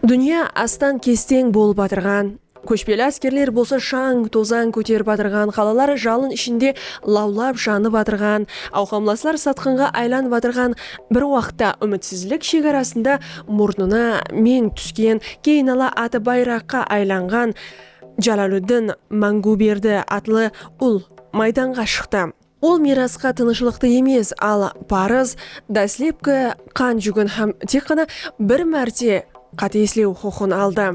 Dúnya astan kesteń bolıp atırǵan, kóshpeli áskerler bolsa shań, tozań kóterip atırǵan, qalalar jalın ishinde lawlap janıp atırǵan, awqamlaslar satqınǵa aylanıp atırǵan bir waqıtta úmitsizlik shegarasında murnına meń túsken, keyin ala atı bayraqqa aylanǵan Jalaliddin Máńǵúberdi atlı ul maydanǵa shıqtı. Ol miyrasqa tınıshlıqtı emes, al parız, dáslepki qan júgin hám tek ǵana bir márte qátelesleu huqıqın aldı.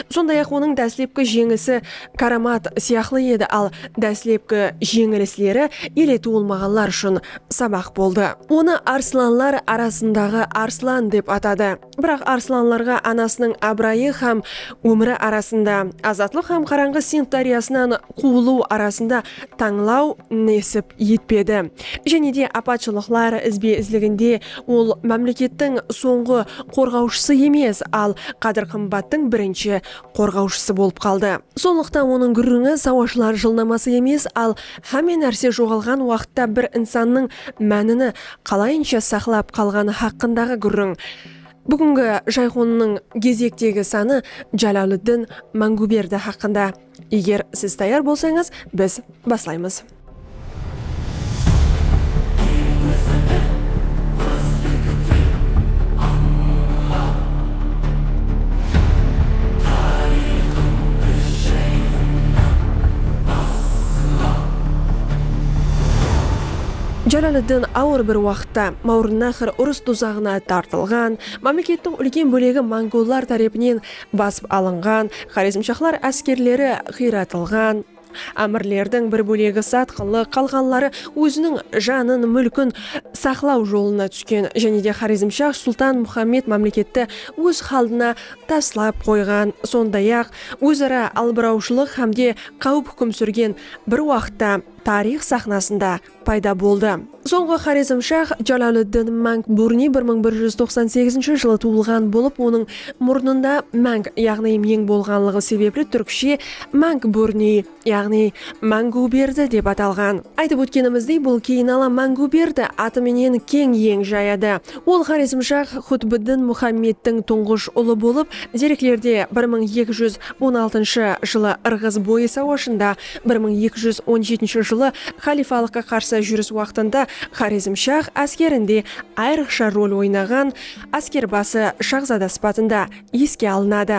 Sonday-aq, onıń dáslepki jeńisi káramat sıyaqlı edi, al dáslepki jeńilisleri ele tuwılmaǵanlar ushın sabaq boldı. Onı arslanlar arasındaǵı arslan dep atadı. Biraq Arslanlarǵa anasınıń abırayı hám ómiri arasında, azatlıq hám qarańǵı Sind dáryasınan quwılıw arasında tańlaw nesip etpedi. Jáne de apatshılıqlar izbe-izliginde ol mámlekettiń sońǵı qorǵawshısı emes, al qádir-qımbattıń birinshi qorǵawshısı bolıp qaldı. Sonlıqtan onıń gúrrińi sawashılar jılnaması emes, al hámme nárse joǵalǵan waqıtta bir insannıń mánini qalayınsha saqlap qalǵanı haqqındaǵı gúrriń. Búgingi jayxonnıń gezektegi sanı Jalaliddin Manguberdi haqqında. Eger siz tayar bolsańız, biz baslaymız. Jalaliddin awır bir waqıtta, Mawrınnahr urıs duzaǵına tartılǵan, mámlekettiń úlken bólegi mongollar tárepinen basıp alınǵan, xorezmshahlar áskerleri qıyratılǵan, ámirlerdiń bir bólegi satqınlıq, qalǵanları óziniń janın, múlkin saqlaw jolına túsken jáne de xorezmshah sultan Muxammed mámleketti óz xaldına taslap qoyǵan, sonday-aq, óz-ara albırawshılıq hámde qáwip húkim súrgen bir waqıtta, tariyx saxnasında payda boldı. Sońǵı xorezmshah Jalauliddin Mang Burni bir mıń bir júz toqsan segizinshi jılı tuwılǵan bolıp, onıń murnında Mang yaǵnıy Meń bolǵanlıǵı sebepli túrkshe Mang Burni yaǵnıy Máńgiwberdi dep atalǵan. Aytıp ótkenimizdey, bul keyinala Máńgiwberdi atı menen keń yeń jayadı. Ol xorezmshah Xutbiddin Muxammedtiń tuńǵısh ulı bolıp, dereklerde bir mıń eki júz on altınshı jılı Irǵız boyı sawashında Bir mıń eki júz on jetinshi jılı xalifalıqqa qarsı júris waqtında Xorezmshah áskerinde ayrıqsha rol oynaǵan áskerbası shahzada sıpatında eske alınadı.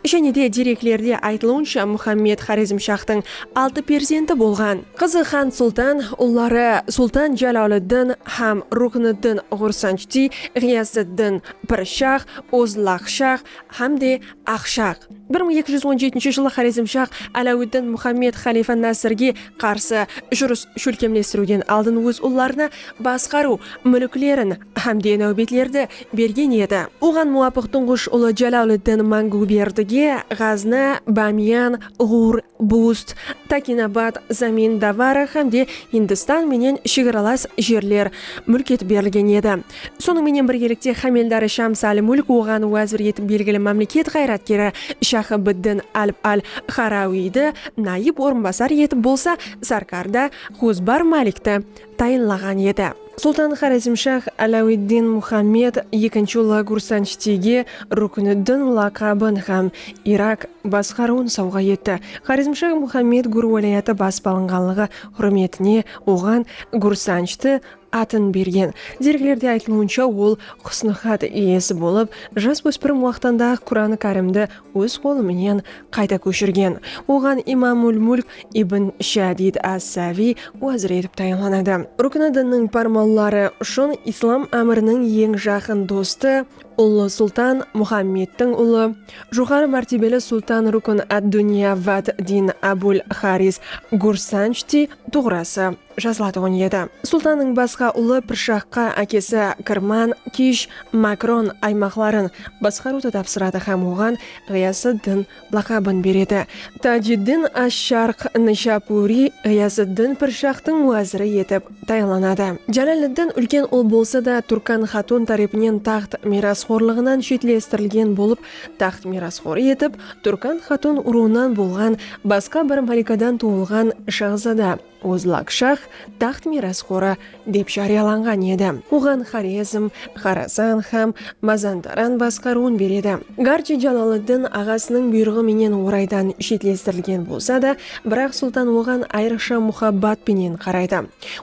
Jáne de dereklerde aytılıwınsha Muxammed Xorezmshahtıń altı perzenti bolǵan. Qızı Xan Sultan, ulları Sultan Jaloliddin hám Rukniddin Ǵursanjti, Ǵiyasıddin, Pirshah, Ozlaqshah hám de Aqshaq. Bir mıń eki júz on jetinshi jılı Xorezmshaq Álawidin Muxammed xalifa Násirge qarsı jurıs shólkemlestiriwden aldın óz ullarına basqarıw múlklerin hám de náwbetlerdi bergen edi. Oǵan muwapıq tuńǵısh ulı Jalauliddin Manguberdige Ǵazna, Bamiyan, Ǵur, Bust, Takinabad, Zamin Davara hám de Hindistan menen shegaralas jerler múlk etip berilgen edi. Sonıń menen birgelikte Xámeldari Shams al-Mulk oǵan wázir etip belgili mámleket ǵayratkeri Shaxıbiddin Alp al-Xarawiydi, nayıp orınbasar etip bolsa Sarkarda Xuzbar Malikti tayınlaǵan edi. Sultan Xorezmshah Alawiddin Muxammed ekinshi ulı Gursanshtige Rukniddin laqabın hám Irak basqarıwın sawǵa etti. Xorezmshah Muxammed Gur wálayatı basıp alınǵanlıǵı húrmetine oǵan Gursanshti atın bergen. Dergilerde aytılıwınsha, ol Husn-ı xat iyesi bolıp, jas óspirim waqtında-aq Quranı kárimdi óz qolı menen qayta kóshirgen. Oǵan Imamul Mulk ibn Shadid as-Saviy wazir etip tayınlanadı. Rukni dinnıń pármanları ushın islam ámiriniń eń jaqın dostı, ullı sultan, Muhammedtiń ulı, joqarı mártebeli sultan Rukn ad-Duniya wad-Din Abul Xaris Gursanjtiy tuǵrası, jazılatuǵın edi. Sultannıń basqa ulı Pirshaqqa ákesi Kirman, Kish, Makron aymaqların basqarıwdı tapsıradı hám oǵan Ǵıyasıddin laqabın beredi. Tajiddin ash-Sharq Nishapuri Ǵıyasıddin Pirshaqtıń wáziri etip tayınlanadı. Jalaliddin úlken ul bolsa da, Turkan xatun tárepinen taxt miyrasxorlıǵınan shetlestirilgen bolıp, taxt miyrasxorı etip Turkan xatun urıwınan bolǵan basqa bir malikadan tuwılǵan shaxzada, Ozlak shax taxt miyrasxori dep járiyalanǵan edi. Oǵan Xorezm, Xorazan hám Mazandaran basqarıwın beredi. Garchi Jaloliddin aǵasınıń buyrıǵı menen oraydan shetlestirilgen bolsa da, biraq sultan oǵan ayrıqsha muhabbat penen qaraydı.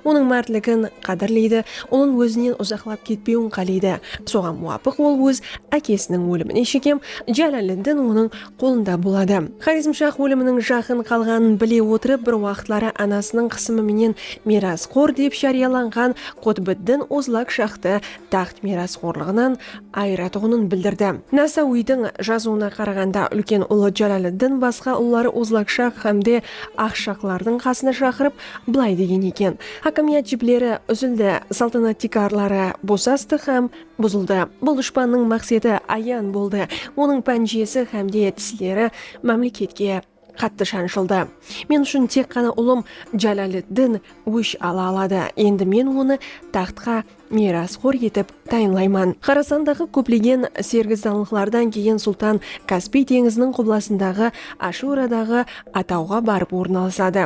Onıń mártligin qádirleydi, ulın ózinen uzaqlap ketpewin qáleydi. Soǵan muwapıq ol óz ákesiniń ólimine shekem Jaloliddin onıń qolında boladı. Xorezmshax óliminiń jaqın qalǵanın bile otırıp bir waqıtları anasınıń qısımı menen miyrasxor dep járiyalanǵan Qutbiddin Ozlak shaxtı taxt miyrasxorlıǵınan ayıratuǵının bildirdi. Nasauiydiń jazıuına qaraǵanda úlken ulı Jalaliddin basqa ulları Ozlakshax hám de Axshaxlardıń qasına shaqırıp bılay degen eken, Hákimiyat jipleri úzildi, saltanat tiykarları bosastı hám Buzıldı. Bul dushpannıń maqseti ayan boldı. Onıń pánjesi hám de tisleri mámleketke qattı shanshıldı. Men ushın tek ǵana ulım Jalaliddin ósh ala aladı. Endi men onı taxtqa miyrasxor etip tayınlayman. Xorasandaǵı kóplegen sergizdanlıqlardan keyin sultan Kaspiy teńiziniń qublasındaǵı Ashuradaǵı atawǵa barıp ornalasadı.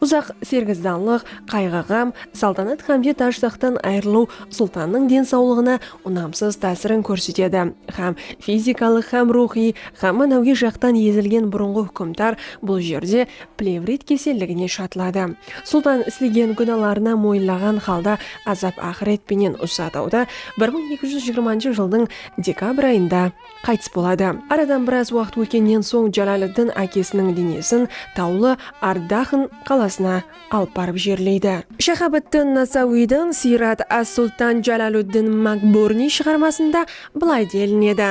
Uzaq sergizdanlıq, qayǵı-ǵam, saltanat hám de taj-taxttan ayırılıw Sultannıń densawlıǵına unamsız tásirin kórsetedi hám fizikalıq hám ruwxıy hám mánawiy jaqtan ezilgen burınǵı húkimdar bul jerde plevrit keselligine shatıladı. Sultan islegen gúnalarına moyınlaǵan halda azap-aqıret penen usı atawda bir mıń eki júz jigirmanshı jıldıń dekabr ayında qaytıs boladı. Aradan biraz waqıt ótkennen soń Jalaliddin ákesiniń denesin tawlı Ardaxn qalasına alıp barıp jerleydi. Shaxabiddin Nasawiydiń Siyrat as-Sultan Jalaluddin Makburniy shıǵarmasında bılay delinedi,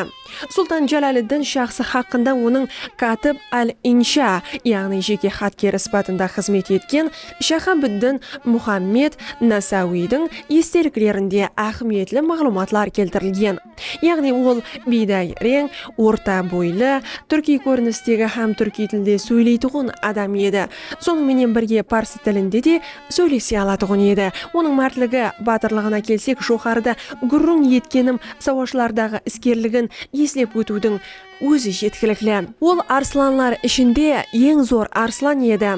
Sultan Jalaliddin shaxsı haqqında onıń Katib al-Insha, yaǵnıy jeke xatkeri sıpatında xızmet etken Shaxabiddin Muxammed Nasawiydiń esteliklerinde áhmiyetli maǵlıwmatlar keltirilgen. Yaǵnıy ol biyday reń, orta boylı, túrkiy kórinistegi hám túrkiy tilde sóyleytuǵın adam edi. Sonıń menen birge parsı tilinde de sóylese alatuǵın edi. Onıń mártligi, batırlıǵına kelsek joqarıda gúrriń etkenim sawashlardaǵı iskerligin eslep ótiwdiń Ózi jetkilikli. Ol arslanlar ishinde eń zor arslan edi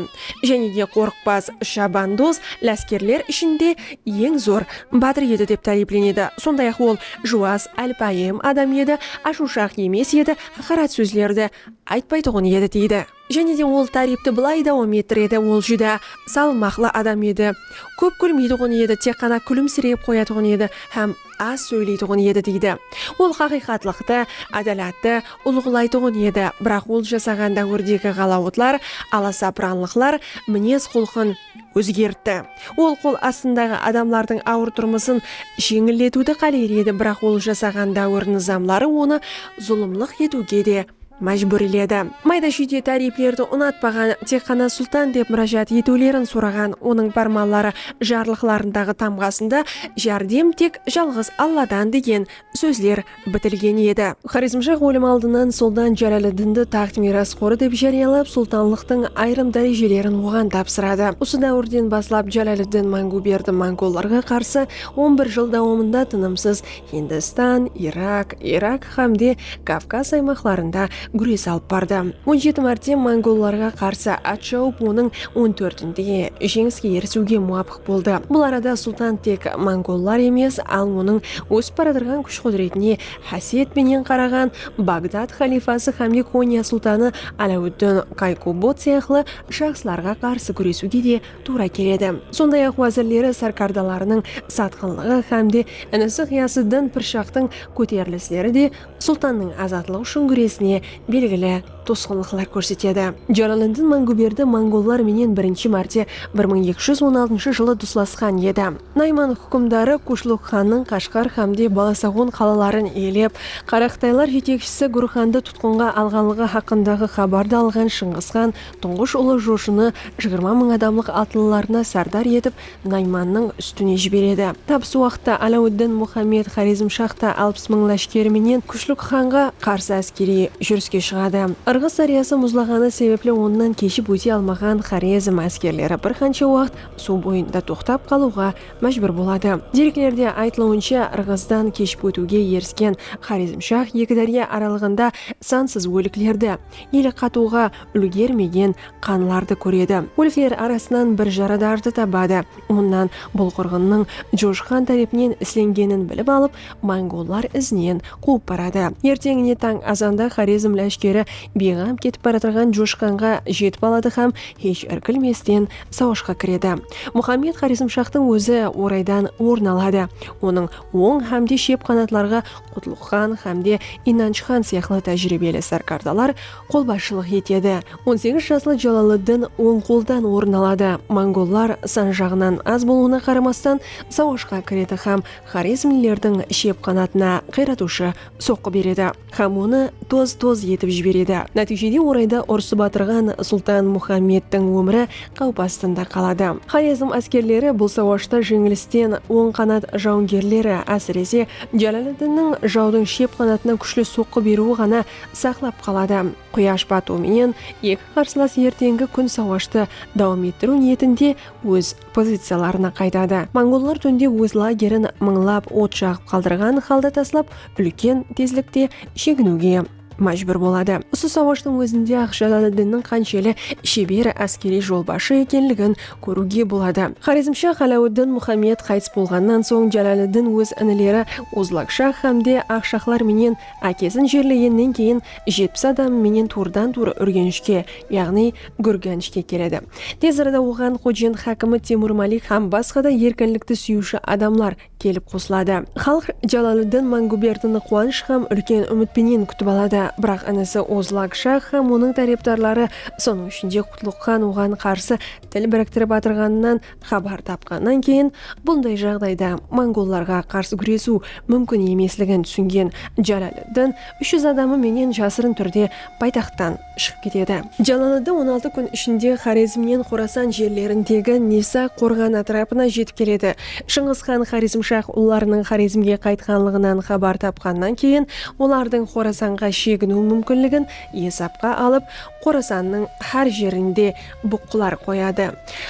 jáne de qorıqpaz shabandóz láskerler ishinde eń zor bátir edi dep táriyplenedi. Sonday-aq, ol juwas, álpáyim adam edi, ashıwshaq emes edi, haqarat sózlerdi aytpaytuǵın edi, deydi. Jáne de ol táriypti bılay dawam ettiredi, Ol júdá salmaqlı adam edi. Kóp gúlmeytuǵın edi, tek ǵana kúlimsireyip qoyatuǵın edi hám az sóyleytuǵın edi, deydi. Ol haqıyqatlıqtı, ádalattı ulǵılaytuǵın edi, biraq ol jasaǵan dáwirdegi ǵalawıtlar, alasapıranlıqlar minez-qulqın, ózgertti. Ol qol astındaǵı adamlardıń awır turmısın jeńilletiwdi qáleyr edi, biraq ol jasaǵan dáwir nızamları onı zulımlıq etiwge de májbúrledi. Mayda-shúyde táriyplerdi unatpaǵan, tek ǵana Sultan dep múrájat etiwlerin soraǵan onıń pármanları jarlıqlarındaǵı tamǵasında Járdem tek jalǵız Alladan degen sózler bitilgen edi. Xorezmshah ólim aldınan Sultan Jaláleddindi taxt miyras qorı dep járiyalap, sultanlıqtıń ayırım dárejelerin oǵan tapsıradı. Usı dáwirden baslap Jaláleddin Manguberdi mongollarǵa qarsı on bir jıl dawamında tınımsız Hindistan, Irak, Irak xámde Kavkaz aymaqlarında gúres alıp bardı. On jeti márte mongollarǵa qarsı at shawıp onıń on tórtinde jeńiske erisiwge muwapıq boldı. boldı. Bul arada Sultan tek mongollar emes, al onıń ósip baratırǵan kúsh-qúdiretine xásiyet penen qaraǵan Bagdad xalifası xámde Konya sultanı Aláwuddin Kaykubot sıyaqlı shaxslarǵa qarsı gúresiwge de tuwra keledi. Sonday-aq, wázirleri sárkardalarınıń satqınlıǵı xámde inisi Ǵıyasıddin Pirshaqtıń kóterilisleri de Sultannıń azatlıq ushın gúresine belgili tosqınlıqlar kórsetedi. Jalaliddin Manguberdi mongollar menen birinshi márte bir mıń eki júz on altınshı jılı duslasqan edi. Nayman húkimdarı Kushluk xannıń Qashqar xámde Balasaǵon qalaların iyelep, qaraqıtaylar jetekshisi Gurxandı tutqınǵa alǵanlıǵı haqqındaǵı xabardı alǵan Shıńǵısxan tuńǵısh ulı Joshını jigirma mıń adamlıq atlılarına sárdar etip Naymannıń ústine jiberedi. Tap usı waqıtta Aláwıddin Muxammed Xorezmshax ta alpıs mıń láshkeri menen Kushlik xanǵa qarsı áskeriy júriske shıǵadı. Irǵız dáryası muzlaǵanı sebepli onnan keship óte almaǵan Xorezm áskerleri bir qansha waqıt suw boyında toqtap qalıwǵa májbúr boladı. Dereklerde aytılıwınsha, Irǵızdan keship ótiwge erisken Xorezmshax eki dárya aralıǵında sansız óliklerdi, ele qatıwǵa úlgermegen qanlardı kóredi. Ólikler arasınan bir jaradardı tabadı. Onnan bul qırǵınnıń Josh xan tárepinen islengenin bilip alıp, mongollar izinen quwıp baradı. Erteńine tań azanda Xorezm láshkeri biyǵam ketip baratırǵan Josh xanǵa jetip aladı hám hesh irkilmesten sawashqa kiredi. Muxammed Xorezmshahtıń ózi oraydan orın aladı. Onıń oń hám de shep qanatlarǵa Qutlıqxan hámde Inanchxan sıyaqlı tájiriybeli sárkardalar qolbasshılıq etedi. On segiz jaslı Jalaliddin oń qoldan orın aladı. Mongollar san jaǵınan az bolıwına qaramastan sawashqa kiredi hám xorezmlilerdiń shep qanatına qıyratıwshı soqqı beredi hám onı toz-toz etip jiberedi. Nátiyjede orayda urısıp atırǵan Sultan Muxammedtiń ómiri qáwip astında qaladı. Xorezm áskerleri bul sawashta jeńilisten oń qanat jawıngerleri, ásirese, Jálaliddinniń jawdıń shep qanatınan kúshli soqqı beriwi ǵana saqlap qaladı. Quyash batıw menen eki qarsılas erteńgi kún sawashtı dawam ettiriw niyetinde óz poziciyalarına qaytadı. Mongollar túnde óz lagerin mıńlap ot jaǵıp qaldırǵan halda taslap, úlken tezlikte sheginiwge. májbúr boladı. Usı sawashtıń ózinde Aq Jalaliddinniń qansheli sheber áskeriy jolbasshı ekenligin kóriwge boladı. Xorezmshah Aláwiddin Muxammed qaytıs bolǵannan soń Jalaliddin óz inileri Uzlakshah hámde Aqshahlar menen ákesin jerlegennen keyin jetpis adamı menen tuwrıdan-tuwrı Úrgenishke, yaǵnıy Gúrganishke keledi. Tez arada oǵan Xojent hákimi Temur Malik hám basqa da erkinlikti súyiwshi adamlar kelip qosıladı. Xalıq Jalaliddin Manguberdini quwanısh hám úlken úmit penen kútip aladı. Biraq inisi Ozlak shah hám onıń tárepdarları, sonıń ishinde Qutluq xan oǵan qarsı til biriktirip atırǵanınan xabar tapqannan keyin, bunday jaǵdayda mongollarǵa qarsı gúresiw múmkin emesligin túsingen Jalaliddin úsh júz adamı menen jasırın túrde paytaxttan shıǵıp ketedi. Jallanıdı on altı kún ishinde Xorezmnen Xorasan jerlerindegi Nisa Qorǵanı átirapına jetip keledi. Shıńǵıs xan Xorezmshah ullarınıń Xorezmge qaytqanlıǵınan xabar tapqannan keyin olardıń Xorasanǵa sheginiw múmkinligin esapqa alıp Xorasannıń xár jerinde buqqılar qoyadı.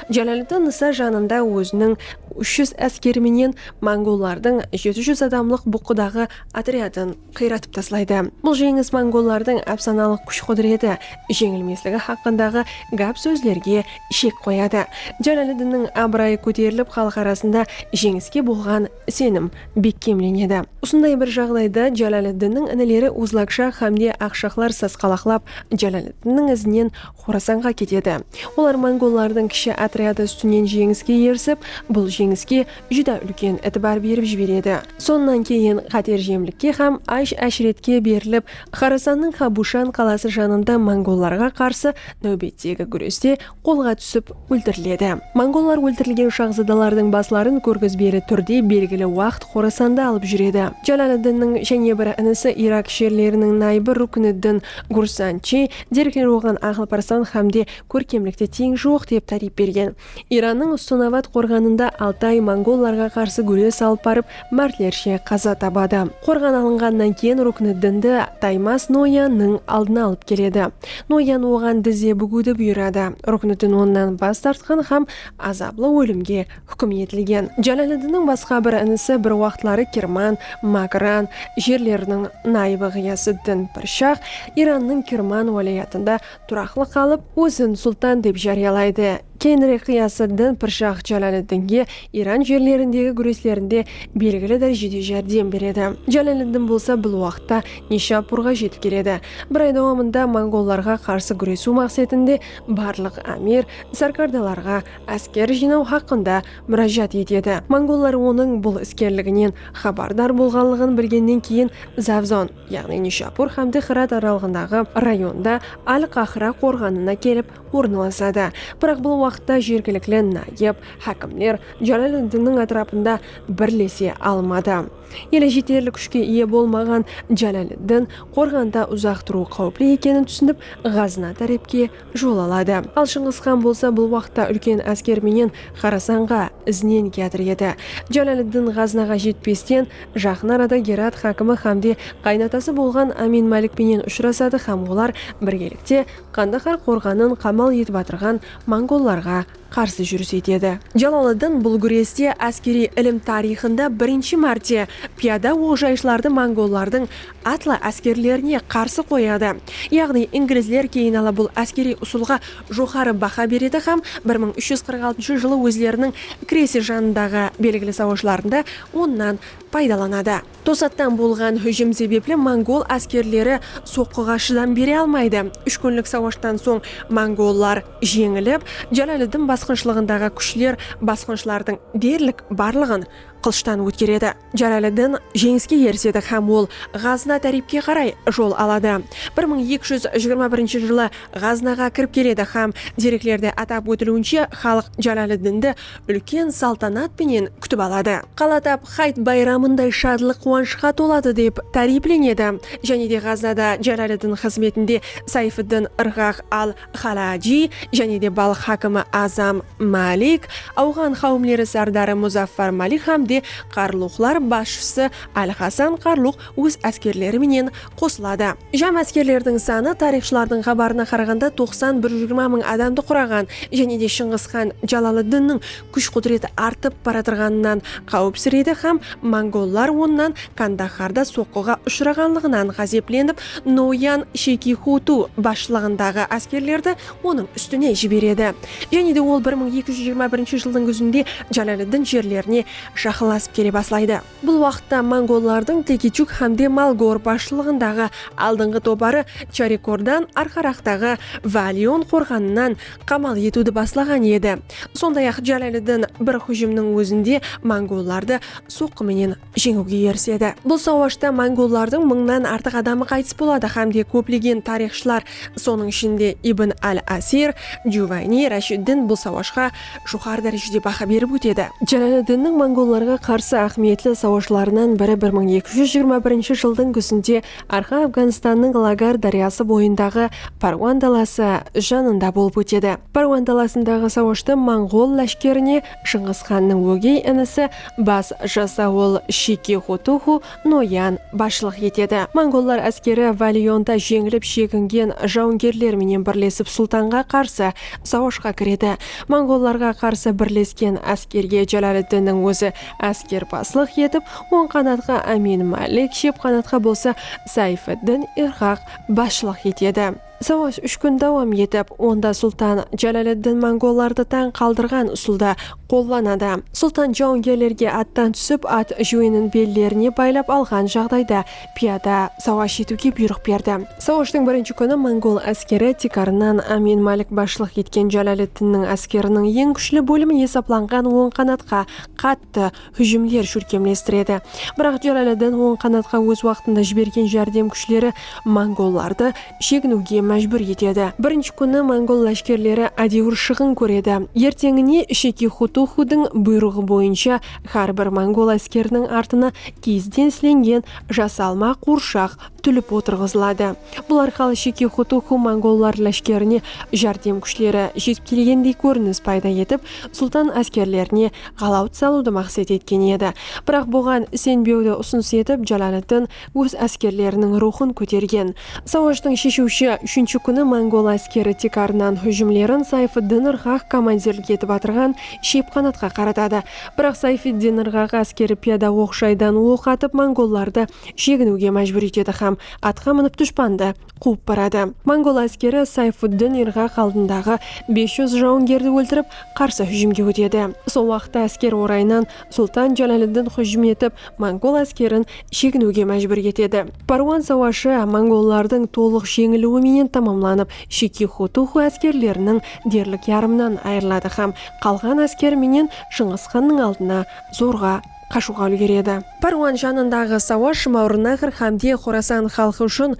Jalaliddin Nisa janında óziniń úsh júz áskeri menen mongollardıń jeti júz adamlıq buqqıdaǵı otryadın qıyratıp taslaydı. Bul jeńis mongollardıń ápsanalıq kúsh-qúdireti, jeńilmesligi haqqındaǵı gáp-sózlerge shek qoyadı. Jalaliddinniń abırayı kóterilip, xalıq arasında jeńiske bolǵan isenim bekkemlenedi. Usınday bir jaǵdayda Jalaliddinniń inileri Uzlakshah hámde Aqshahlar sasqalaqlap, Jalaliddinniń izinen Xorasanǵa ketedi. Olar mongollardıń kishi otryadı ústinen jeńiske erisip, bul jeńiske júdá úlken itibar berip jiberedi. Sonnan keyin qáterjemlikke hám ash-áshretke berilip, Xorasannıń Xabushan qalası janında mongollarǵa qarsı náwbettegi gúreste qolǵa túsip óltiriledi. Mongollar óltirilgen shahzadalardıń basların kórgizbeli túrde belgili waqt Xorasanda alıp júredi. Jalaliddinniń jáne bir inisi Irak sherleriniń nayıbı Rukniddin Gursanchi Derviler oǵan aqıl parsan xám de kórkemlikte teń joq dep táriyp bergen. Irannıń Ustonabad qorǵanında Altay mongollarǵa qarsı gúrez salıp barıp mártlershe qaza tabadı. Qorǵan alınǵannan keyin Rukniddindi Taymas Noyan nıń aldına alıp keledi. Noyan oǵan dizze búgiwdi buyıradı. Rukniddin onnan bas tartqan xám azaplı ólimge húkim etilgen. Jálaliddinniń basqa bir inisi bir waqıtları Kirman, Mákran, jerleriniń nayıbı Ǵıyasıddin Pirshah Irannıń Kirman wálayatında turaqlı qalıp, ózin sultan dep járiyalaydı. Keyinirek Ǵıyasıddin Pirshah Jálaliddinge Iran jerlerindegi gúreslerinde belgili dárejede járdem beredi. Jálaliddin bolsa bul waqıtta Nishapurǵa jetip keledi. Bir ay dawamında mongollarǵa qarsı gúresiw maqsetinde barlıq ámir, sárkardalarǵa, ásker jıynaw haqqında múrájat etedi. Mongollar onıń bul iskerliginen xabardar bolǵanlıǵın bilgennen keyin Zavzon, yaǵnıy Nishapur hámde Xirat aralıǵındaǵı rayonda Al-Qahra qorǵanına kelip ornalasadı. Biraq bul waqıtta jergilikli nayıp hákimler Jálaleddinniń átirapında birlese almadı. Ele jeterli kúshke iye bolmaǵan Jálaleddin qorǵanda uzaq turıw qáwipli ekenin túsinip, Ǵazna tárepke jol aladı. Al Shıńǵıs xan bolsa bul waqıtta úlken ásker menen Xorasanǵa izinen kiyatır edi. Jalaliddin Ǵaznaǵa jetpesten, jaqın arada Gerat xákimi xámde qaynatası bolǵan Amin Málik penen ushırasadı xám olar birgelikte Qandahar qorǵanın qamal etip atırǵan mongollarǵa qarsı júris etedi. Jalaliddin bul gúreste áskeriy ilim tariyxında birinshi márte piyada oqjayshılardı mongollardıń atlı áskerlerine qarsı qoyadı. Yaǵnıy inglizler keyin ala bul áskeriy usılǵa joqarı baha beredi hám bir mıń úsh júz qırq altınsha jılı ózleriniń Kresi janındaǵı belgili sawashlarında onnan paydalanadı. Tosattan bolǵan hújim sebepli mongol áskerleri soqqıǵa shıdam bere almaydı. Úsh kúnlik sawashtan soń mongollar jeńilip, Jalaliddin basqınshılıǵındaǵı kúshler basqınshılardıń derlik barlıǵın qılıshtan ótkeredi. Jalaliddin jeńiske erisedi hám ol Ǵazna tárepke qaray jol aladı. Bir mıń eki júz jigirma birinshi jılı Ǵaznaǵa kirip keledi hám dereklerde atap ótiliwinshe xalıq Jalaliddindi úlken saltanat penen kútip aladı. Qala tap Hayt bayramınday shadlıq-quwanıshqa toladı dep táriyplenedi. Jáne de Ǵaznada Jalaliddin xızmetinde Sayfiddin Irǵaq al-Xalajiy, jáne de Balx hákimi Azam Malik, awǵan qáwimleri sárdarı Muzaffar Malik hám de Qarluqlar basshısı Al-Hasan Qarluq óz áskerleri menen qosıladı. Jam áskerlerdiń sanı tariyxshılardıń xabarına qaraǵanda toqsan bir jigirma mıń adamdı quraǵan jáne de Shıńǵıs xan Jalaliddinniń kúsh-qudrati artıp baratırǵanınan qáwipsireydi hám mongollar onnan Kandaxarda soqqıǵa ushıraǵanlıǵınan ǵázeplenip Noyan Shekixutu basshılıǵındaǵı áskerlerdi onıń ústine jiberedi jáne de ol bir mıń eki júz jigirma birinshi jıldıń gúzinde Jalaliddin jerlerine jaqınlasıp kele baslaydı. Bul waqıtta mongollardıń Tekichuk hámde Malgor basshılıǵındaǵı aldınǵı toparı Charikordan arqaraqtaǵı Valion qorǵanınan qamal etiwdi baslaǵan edi. Sonday-aq, Jalaliddin bir hújimniń ózinde mongollardı soqqı menen jeńiwge erisedi. Bul sawashta mongollardıń mıńnan artıq adamı qaytıs boladı hámde kóplegen tariyxshılar, sonıń ishinde Ibn al-Asir, Juvayni, Rashiddin bul sawashqa joqarı dárejede baha berip ótedi. Jalaliddinniń mongollarǵa qarsı áhmiyetli sawashlarınan biri bir mıń eki júz jigirma birinshi jıldıń gúzinde Arqa Afǵanstannıń Lagar dáryası boyındaǵı Parwan dalası janında bolıp ótedi. Parwan dalasındaǵı sawashtı mongol láshkerine Shıńǵısxannıń ógey inisi bas jasawıl Shiki Xotuxu Noyan, basshılıq etedi. Mongollar áskeri Valionda jeńilip shegingen jawıngerler menen birlesip sultanǵa qarsı sawashqa kiredi. Mongollarǵa qarsı birlesken áskerge Jalaliddinniń ózi áskerbaslıq etip, oń qanatqa Amin Malik, shep qanatqa bolsa Sayfiddin Irqaq basshılıq etedi. Sawash úsh kún dawam etip, onda sultan Jalaliddin mongollardı tań qaldırǵan usıldı qollanadı. Sultan jawıngerlerge attan túsip, at júwenin bellerine baylap alǵan jaǵdayda piyada sawash etiwge buyrıq berdi. Sawashtıń birinshi kúni mongol áskeri tiykarınan Amin Malik basshılıq etken Jalaliddinniń áskeriniń eń kúshli bólimi esaplanǵan oń qanatqa qattı, hújimler shólkemlestiredi. Biraq Jalaliddin oń qanatqa óz waqtında jibergen járdem kúshleri mongollardı sheginiwge májbúr etedi. Birinshi kúni mongol láshkerleri ádewir shıǵın kóredi. Erteńine Sheki Xutuxudıń buyrıǵı boyınsha hár bir mongol áskeriniń artına kiyizden islengen jasalma quwırshaq túlip otırǵızıladı. Bul arqalı Sheki Xutuxu mongollar láshkerine járdem kúshleri jetip kelgendey kórinis payda etip, sultan áskerlerine ǵalawt salıwdı maqset etken edi. Biraq buǵan isenbewdi usınıs etip Jalaliddin óz áskerleriniń ruwxın kótergen. Sawashtıń sheshiwshi úshinshi kúni mongol áskeri tiykarınan hújimlerin Sayfiddin Irǵaq komandirlik etip atırǵan Shiypqanatqa qaratadı. Biraq Sayfiddin Irǵaq áskeri piyada oq-jaydan oq atıp mongollardı sheginiwge májbúr etedi hám atqa minip dushpandı quwıp baradı. Mongol áskeri Sayfuddin Irǵaq aldındaǵı bes júz jawıngerdi óltirip, qarsı hújimge ótedi. Sol waqıtta ásker orayınan Sultan Jalaliddin hújim etip, mongol áskerin sheginiwge májbúr etedi. Parwan sawashı mongollardıń tolıq jeńiliwi menen tamamlanıp, Shiki Xutuxu áskerleriniń derlik yarımınan ayırıladı hám qalǵan ásker menen Shıńǵısxannıń aldına zorǵa qashıwǵa úlgeredi. Párwan janındaǵı Sawa, Shımaurınaqr hámde Xorasan xalqı ushın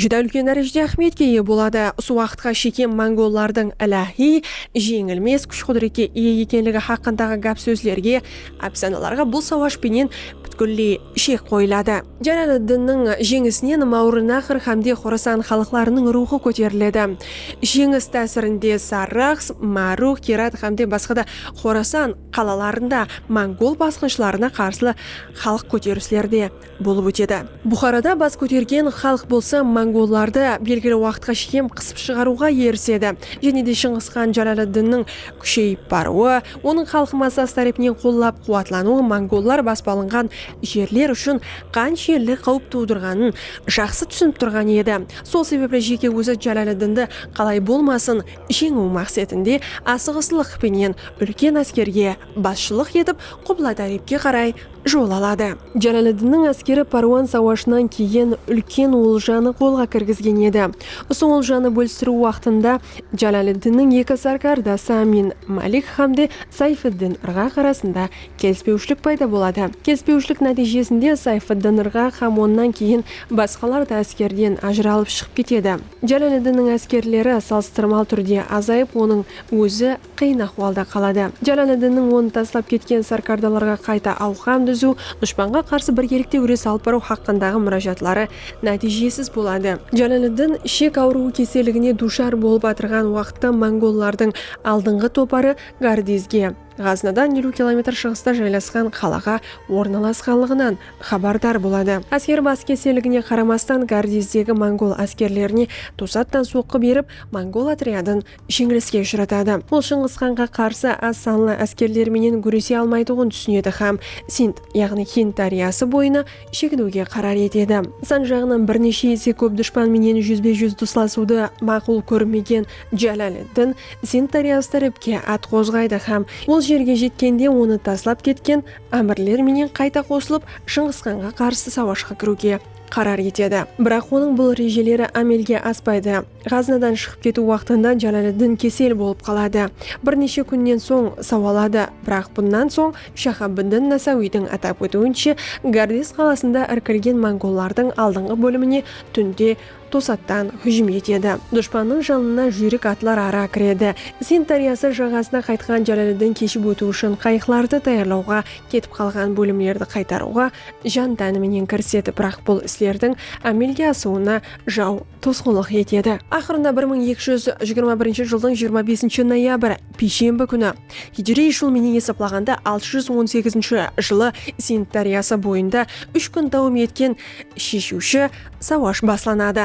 júdá úlken dárejede áhmiyetke iye boladı. Usı waqıtqa shekem mongollardıń iláhiy, jeńilmes kúsh-qúdirette iye ekenligi haqqındaǵı gáp-sózlerge, ápsanalarǵa bul sawash penen pútkilley shek qoyıladı. Jálaliddinniń jeńisinen Máwrınaqr hámde Xorasan xalıqlarınıń ruwxı kóteriledi. Jeńis tásirinde Sarraxs, Márux, Kerat hámde basqa da Xorasan, qalalarında mongol basqınshılarına qarsılı xalıq kóterisleri de bolıp ótedi. Buxarada bas kótergen xalıq bolsa mongollardı belgili waqıtqa shekem qısıp shıǵarıwǵa erisedi. Jáne de Shıńǵısxan Jálaliddinniń kúsheyip barıwı, onıń xalıq massası tárepinen qollap-quwatlanıwı mongollar basıp alınǵan jerler ushın qanshelli qáwip tuwdırǵanın jaqsı túsinip turǵan edi. Sol sebepli jeke ózi Jálaliddindi qalay bolmasın, Jeńiw maqsetinde asıǵıslıq penen úlken áskerge basshılıq etip Qubladárepke qaray jol aladı. Jalaliddinniń áskeri Párwan sawashınan keyin úlken oljanı qolǵa kirgizgen edi. Usı oljanı bólistiriw waqtında Jalaliddinniń eki sárkardası Amin Malik hámde Sayfiddin Irǵaq arasında kelispewshilik payda boladı. Kelispewshilik nátiyjesinde Sayfiddin Irǵaq hám onnan keyin basqalar da áskerden ajıralıp shıǵıp ketedi. Jálaleddinniń áskerleri salıstırmal túrde azayıp onıń ózi qıyın ahwalda qaladı. Jálaleddinniń onı taslap ketken sarkardalarǵa qayta awqam dúziw, dushpanǵa qarsı birgelikte gúres alıp barıw haqqındaǵı múrájatları nátiyjesiz boladı. Jálaleddin ishek awırıwı keseligine duwshar bolıp atırǵan waqıtta mongollardıń aldınǵı toparı Gardizge, Ǵaznadan eliw kilometr shıǵısta jaylasqan qalaǵa ornalasqanlıǵınan xabardar boladı. Ásker bas keselligine qaramastan Gardizdegi mongol áskerlerine tosattan soqqı berip, mongol otryadın jeńiliske ushıratadı. Ol Shıńǵısxanǵa qarsı az sanlı áskerler menen gúrese almaytuǵın túsinedi hám Sind, yaǵnıy Hind dáryası boyına shekiniwge qarar etedi. San jaǵınan bir neshe ese kóp dushpan menen júzbe-júz duslasıwdı maqul kórmegen Jalaliddin Sind dáryası tárepke at qozǵaydı hám ol jerge jetkende onı taslap ketken ámirler menen qayta qosılıp Shıńǵısxanǵa qarsı sawashqa kiriwge qarar etedi. Biraq onıń bul rejeleri ámelge aspaydı. Ǵaznadan shıǵıp ketiw waqtında Jalaliddin kesel bolıp qaladı. Bir neshe kúnnen soń sawaladı. Biraq bunnan soń Shaxabiddin Nasawidiń atap ótiwinshe, Gardes qalasında irkilgen mongollardıń aldınǵı bólimine túnde tosattan hújim etedi. Dushpannıń janına júyrik atlar ara kiredi. Sind dáryası jaǵasına qaytqan Jalaliddin keship ótiw ushın qayıqlardı tayarlawǵa, ketip qalǵan bólimlerdi qaytarıwǵa jan-tánı menen kirisetip, biraq bul islerdiń ámelge asıwına jaw tosqınlıq etedi. Aqırında bir mıń eki júz jigirma birinshi jıldıń jigirma besinshi noyabr, piyshembi kúni, hijiriy jıl menen esaplaǵanda altı júz on segizinshi jılı Sind dáryası boyında úsh kún dawam etken sheshiwshi sawash baslanadı.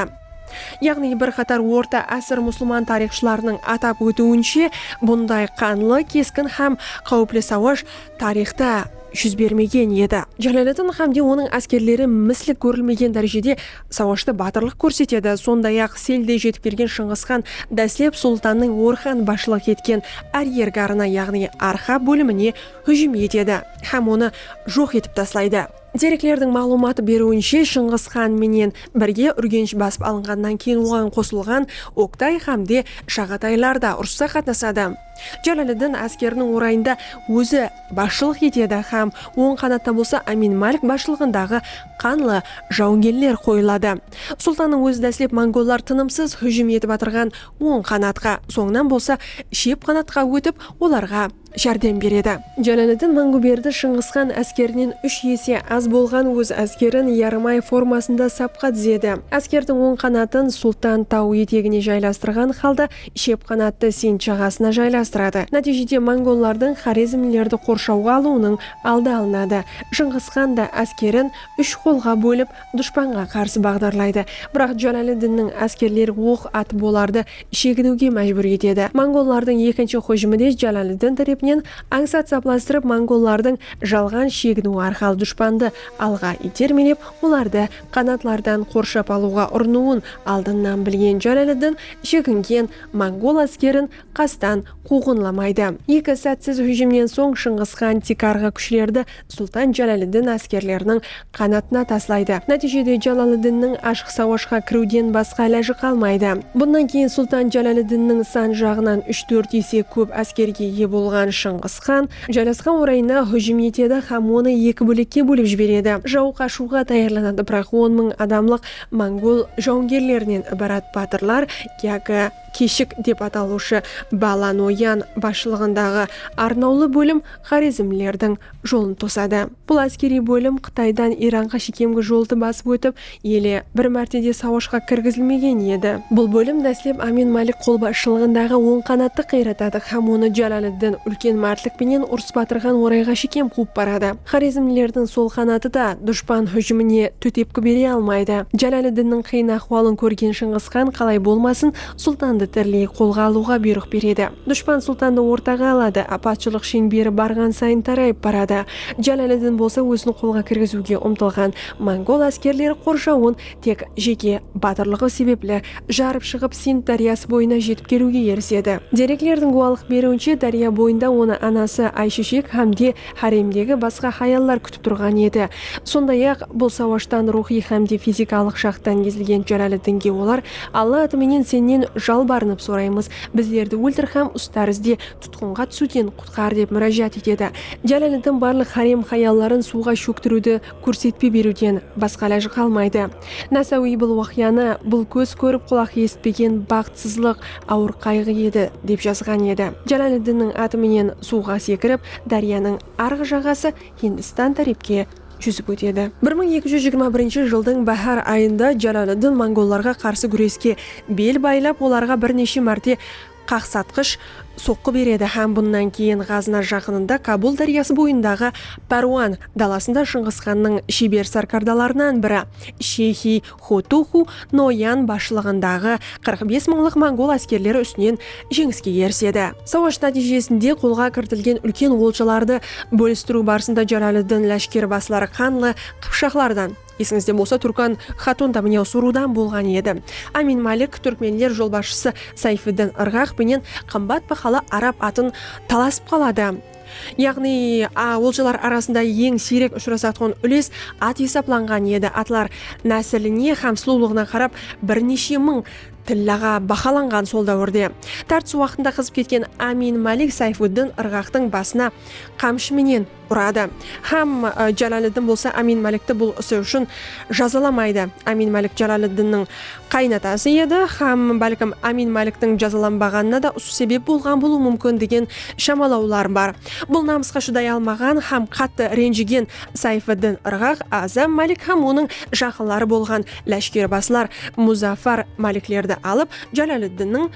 Yaǵnıy bir qatar orta ásir musılman tariyxshılarınıń atap ótiwinshe, bunday qanlı, keskin hám qáwipli sawash tariyxta júz bermegen edi. Jalaleddin xámde onıń áskerleri misli kórilmegen dárejede sawashta batırlıq kórsetedi, sonday-aq, selde jetip kelgen Shıńǵıs xan dáslep sultannıń Orxan basshılıq etken áryergarına, yaǵnıy Arxa bólimine hújim etedi hám onı joq etip taslaydı. Dereklerdiń maǵlıwmat beriwinshe, Shıńǵıs xan menen birge Úrgensh basıp alınǵannan keyin oǵan qosılǵan Oktay xámde Shaǵataylar da urıssa qatnasadı. Jalaliddin áskeriniń orayında ózi basshılıq etedi hám oń qanatta bolsa Amin Malik basshılıǵındaǵı qanlı jawıngerler qoyıladı. Sultannıń ózi dáslep mongollar tınımsız hújim etip atırǵan oń qanatqa, sońınan bolsa shep qanatqa ótip, olarǵa járdem beredi. Jalaliddin Manguberdi Shıńǵısxan áskerinen úsh ese az bolǵan óz áskerin yarım ay formasında sapqa dizedi. Áskerdiń oń qanatın Sultan taw etegine jaylastırǵan halda Shep qanattı Sind jaǵasına jaylastıradı. Nátiyjede mongollardıń xorezmlilerdi qorshawǵa alıwınıń aldı alınadı. Jıńǵıs xan da áskerin úsh qolǵa bólip dushpanǵa qarsı baǵdarlaydı. Biraq Jalaliddinniń áskerleri oq atıp olardı sheginiwge májbúr etedi. Mongollardıń ekinshi hújimi de Jalaliddin tárepinen ańsat saplastırıp mongollardıń jalǵan sheginiwi arqalı dushpandı alǵa itermelep olardı Qanatlardan qorshap alıwǵa urınıwın aldınnan bilgen Jálaliddin shekingen mongol áskerin qastan quwǵınlamaydı. Eki sátsiz hújimnen soń Shıńǵıs xan tiykarǵı kúshlerdi Sultan Jálaliddin áskerleriniń qanatına taslaydı. Nátiyjede Jálaliddinniń ashıq sawashqa kiriwden basqa ilajı qalmaydı. Bunnan keyin Sultan Jálaliddinniń san jaǵınan úsh-tórt ese kóp áskerge iye bolǵan Shıńǵıs xan, Jarasqan orayına hújim etedi hám onı eki bólekke bólip jiberedi. Jaw qashıwǵa tayarlanadı, biraq on mıń adamlıq mongol jawıngerlerinen ibarat batırlar yaki Keshik dep atalıwshı Bala Noyan basshılıǵındaǵı arnawlı bólim xorezmlilerdiń jolın tosadı. Bul áskeriy bólim Qıtaydan Iranǵa shekemgi joldı basıp ótip, ele, bir márte de sawashqa kirgizilmegen edi. Bul bólim dáslep Amin Malik qolbasshılıǵındaǵı Oń qanattı qıyratadı hám onı Jalaliddin úlken mártlik penen urıs batırǵan orayǵa shekem quwıp baradı. Xorezmlilerdiń sol qanatı da dushpan hújimine tótepki bere almaydı. Jalaliddinniń qıyın áhwalın kórgen Shıńǵısxan qalay bolmasın, Sultandı tiriley qolǵa alıwǵa buyrıq beredi. Dushpan sultandı ortaǵa aladı, apatshılıq sheńberi barǵan sayın tarayıp baradı. Jalaliddin bolsa ózin qolǵa kirgiziwge umtılǵan mongol áskerleri qorshawın tek jeke batırlıǵı sebepli jarıp shıǵıp Sind dáryası boyına jetip keliwge erisedi. Dereklerdiń gúwalıq beriwinshe dárya boyında onı anası Aysheshek hám de háremdegi basqa hayallar kútip turǵan edi. Sonday-aq, bul sawashtan ruwxıy hám de fizikalıq jaqtan ezilgen Jalaliddinge olar Alla atı menen Sennen jalbarınıp soraymız, bizlerdi óltir hám ustarizde tutqınǵa túsiwden qutqar, dep múrájat etedi. Jálaliddin barlıq hárem-hayalların suwǵa shóktiriwdi kórsetpe beriwden basqa ilaj qalmaydı. Nasawiy bul waqıyanı bul kóz kórip qulaq esitpegen baxıtsızlıq, awır qayǵı edi, dep jazǵan edi. Jálaliddinniń atı menen suwǵa sekirip, dáryanıń arǵı jaǵası Hindistan tárepke júzip ótedi. Bir mıń eki júz jigirma birinshi jıldıń báhár ayında Jalaliddin mongollarǵa qarsı gúreske bel baylap, olarǵa bir neshe márte qaqsatqısh soqqı beredi hám bunnan keyin Ǵazna jaqınında Kabul dáryası boyındaǵı Párwan dalasında Shıńǵısxannıń sheber sárkardalarınan biri Sheyxi Xotuxu Noyan basshılıǵındaǵı qırq bes mıńlıq mongol áskerleri ústinen jeńiske erisedi. Sawash nátiyjesinde qolǵa kiritilgen úlken oljalardı bólistiriw barısında Jalalıddin láshkeribasıları qanlı qıpshaqlardan, esińizde bolsa Turkan xatun da mine usı ruwdan bolǵan edi, Amin Malik túrkmenler jolbasshısı Sayfiddin Irǵaq penen qımbat bahalı arab atın talasıp qaladı. Yaǵnıy, a oljalar arasında eń siyrek ushırasatuǵın úles at esaplanǵan edi, atlar násiline hám sulıwlıǵına qarap bir neshe mıń tillaǵa bahalanǵan sol dáwirde. Tartıs waqtında qızıp ketken Amin Malik Sayfuddin ırǵaqtıń basına qamshı menen uradı hám Jalaliddin bolsa Amin Malikti bul isi ushın jazalamaydı. Amin Malik Jalaliddinniń qaynatası edi hám bálkim Ámin Máliktiń jazalanbaǵanına da usı sebep bolǵan bolıwı múmkin degen shamalawlar bar. Bul namısqa shıday almaǵan hám qattı renjigen Sayfiddin ırǵaq Azam Málik hám onıń jaqınları bolǵan láshkerbasılar Muzaffar Máliklerdi alıp Jalaliddinniń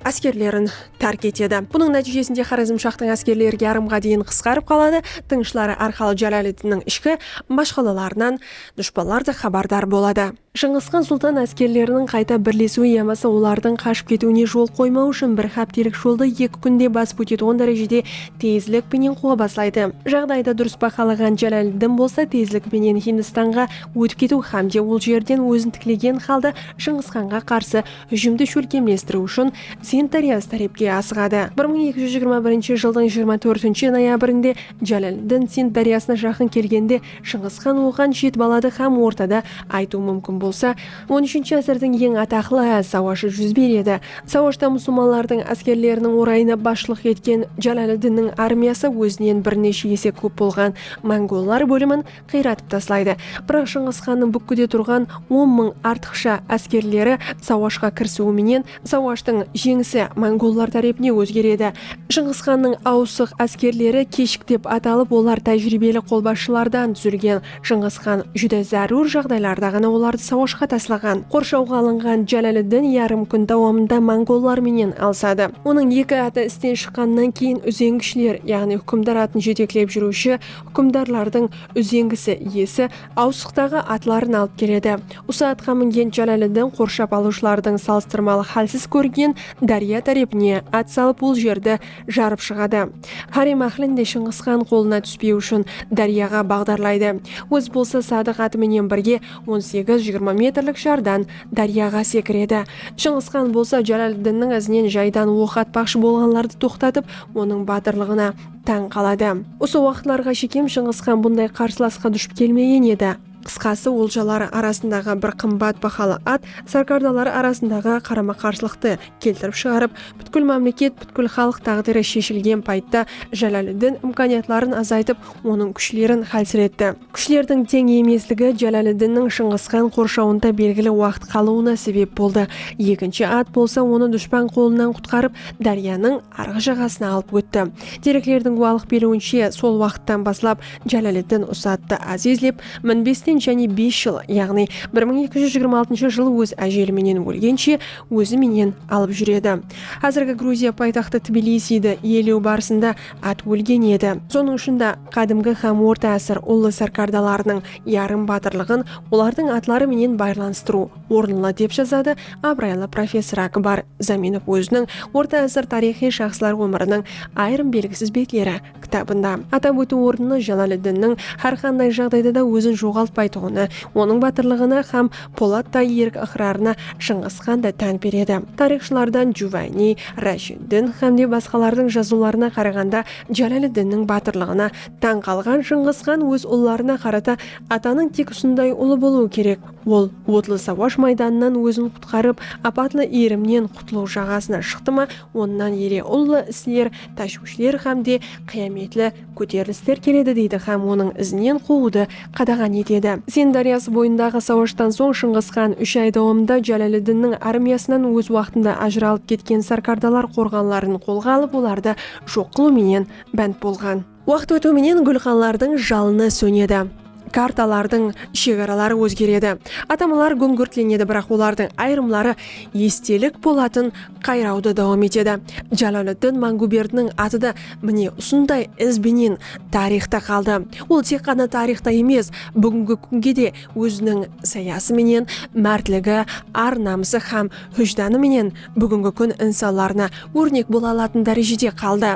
áskerlerin tárk etedi. Bunıń nátiyjesinde Xorezmshaxtıń áskerleri yarımǵa deyin qısqarıp qaladı, tınıshları arqalı Jalaliddinniń ishki mashqalalarınan dushpanlar da xabardar boladı. Shıńǵısxan Sultan áskerleriniń qayta birlesiwi yamasa olardıń qashıp ketiwine jol qoymau ushın bir xáptelik joldı eki kúnde basıp ótetuǵın dárejede tezlik penen quwa baslaydı. Jaǵdaydı durıs bahalaǵan Jalaliddin bolsa tezlik penen Hindistanǵa ótip ketiw xámde ol jerden ózin tiklegen xalda Shıńǵısxanǵa qarsı hújimdi shólkemlestiriw ushın Sind dáryası tárepke asıǵadı. Bir mıń eki júz jigirma birinshi jıldıń jigirma tórtinshi noyabrinde Jalaliddin Sind dáryasına jaqın kelgende Shıńǵıs xan oǵan jet baladı xám ortada aytıw múmkin bolsa, on úshinshi ásirdiń eń ataqlı áz sawashı Júzber edi. Sawashta musılmanlardıń áskerleriniń orayına basshılıq etken Jalaliddinniń armiyası ózinen bir neshe ese kóp bolǵan mongollar bólimin qıyratıp taslaydı. Biraq Shıńǵıs xannıń búkkide turǵan on mıń artıqsha áskerleri sawashqa kirisiwi menen Sawashtıń jeńisi mongollar tárepine ózger edi. Shıńǵıs xannıń awısıq áskerleri keshik dep atalıp, olar tájiriybeli qolbasshılardan dúzilgen. Shıńǵıs xan júdá zárúr jaǵdaylarda ǵana olardı sawashqa taslaǵan. Qorshawǵa alınǵan Jálaliddin yarım kún dawamında mongollar menen alısadı. Onıń eki atı isten shıqqannan keyin úzeńgishler, yaǵnıy húkimdar atın jeteklep júriwshi húkimdarlardıń úzeńgisi iyesi awsıqtaǵı atların alıp keledi. Usı atqa mingen Jalaliddin qorshap alıwshılardıń salıstırmalı hálsiz kórgen dárya tárepine at salıp ol jerdi jarıp shıǵadı. Hárem áhlin de Shıńǵısxan qolına túspeu ushın dáryaǵa baǵdarlaydı. Ózi bolsa Sadıq atı menen birge on segiz-jigirma metrlik jardan dáryaǵa sekiredi. Shıńǵısxan bolsa Jalaliddinniń izinen jaydan oq atpaqshı bolǵanlardı toqtatıp, onıń batırlıǵına tań qaladı. Usı waqıtlarǵa shekem Shıńǵısxan bunday qarsılasqa dushp kelmegen edi. Qısqası, oljalar arasındaǵı bir qımbat bahalı at sárkardalar arasındaǵı qarama-qarsılıqtı keltirip shıǵarıp, pútkil mámleket, pútkil xalıq táǵdiri sheshilgen payıtta Jálaliddin imkaniyatların azaytıp, onıń kúshlerin xálsiretti. Kúshlerdiń teń emesligi Jálaliddinniń Shıńǵısxan qorshawında belgili waqıt qalıwına sebep boldı. Ekinshi at bolsa onı dushpan qolınan qutqarıp, dáryanıń. arǵı jaǵasına alıp ótti. Dereklerdiń guwalıq beriwinshe, sol waqıttan baslap Jálaliddin usı attı Aziz dep minbesinen jáne bes jıl, yaǵnıy bir mıń eki júz jigirma altınsha jıl óz ájeli menen ólgenshe ózi menen alıp júredi. Házirgi Gruziya paytaxtı Tbilisiydi iyelew barısında at ólgen edi. Sonıń ushın da qádimgi hám orta ásir ullı sárkardalarınıń yarım batırlıǵın olardıń atları menen baylanıstırıw orınla, dep jazadı abıraylı professor Akbar Zaminov óziniń Orta ásir tariyxıy shaxslar ómiriniń ayırım belgisiz betleri kitabında. Atap ótiw orınlı, Jalaliddinniń hár qanday jaǵdayda da ózin joǵaltpaytuǵını, onıń batırlıǵına hám polatday erik ıqrarına Shıńǵıs xan da tán beredi. Tariyxshılardan Juvayniy, Rashiddin hám de basqalardıń jazıwlarına qaraǵanda Jalaliddinniń batırlıǵına tań qalǵan Shıńǵıs xan óz ullarına qarata Atanıń tek usınday ulı bolıwı kerek, Ol otlı sawash maydanınan ózin qutqarıp, apatlı iyrimnen qutılıw jaǵasına shıqtı ma, onnan ele ullı isler, táshwishler hám de qıyametli kóterilisler keledi deydi hám onıń izinen quwıwdı qadaǵan etedi. Sen dáryası boyındaǵı sawashtan soń Shıńǵıs xan úsh ay dawamında Jálaliddinniń armiyasınan óz waqtında ajıralıp ketken sarkardalar qorǵanların qolǵa alıp olardı joq qılıw menen bánt bolǵan. Waqıt ótiw menen gúlxanlardıń jalını sónedi, kartalardıń shegaraları ózgeredi, atamalar gúńgirtlenedi, biraq olardıń ayırımları estelik bolatın qayrawdı dawam etedi. Jaloliddin Mangúberdiniń atı da mine usınday iz benen tariyxta qaldı. Ol tek ǵana tariyxta emes, búgingi kúnge de óziniń sayası menen, mártligi, ar-namısı hám hújdanı menen búgingi kún insanlarına órnek bola alatuın dárejede qaldı.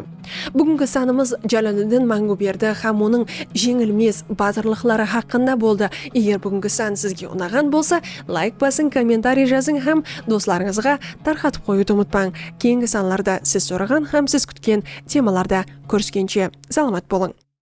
Búgingi sanımız Jaloliddin Mańǵuberdi hám onıń jeńilmes batırlıqları haqqında boldı. Eger búgingi san sizge unaǵan bolsa, layk basıń, kommentariy jazıń hám doslarıńızǵa tarqatıp qoyıwdı umıtpań. Keyingi sanlarda siz soraǵan hám siz kútken temalarda kóriskenshe, salamat bolıń!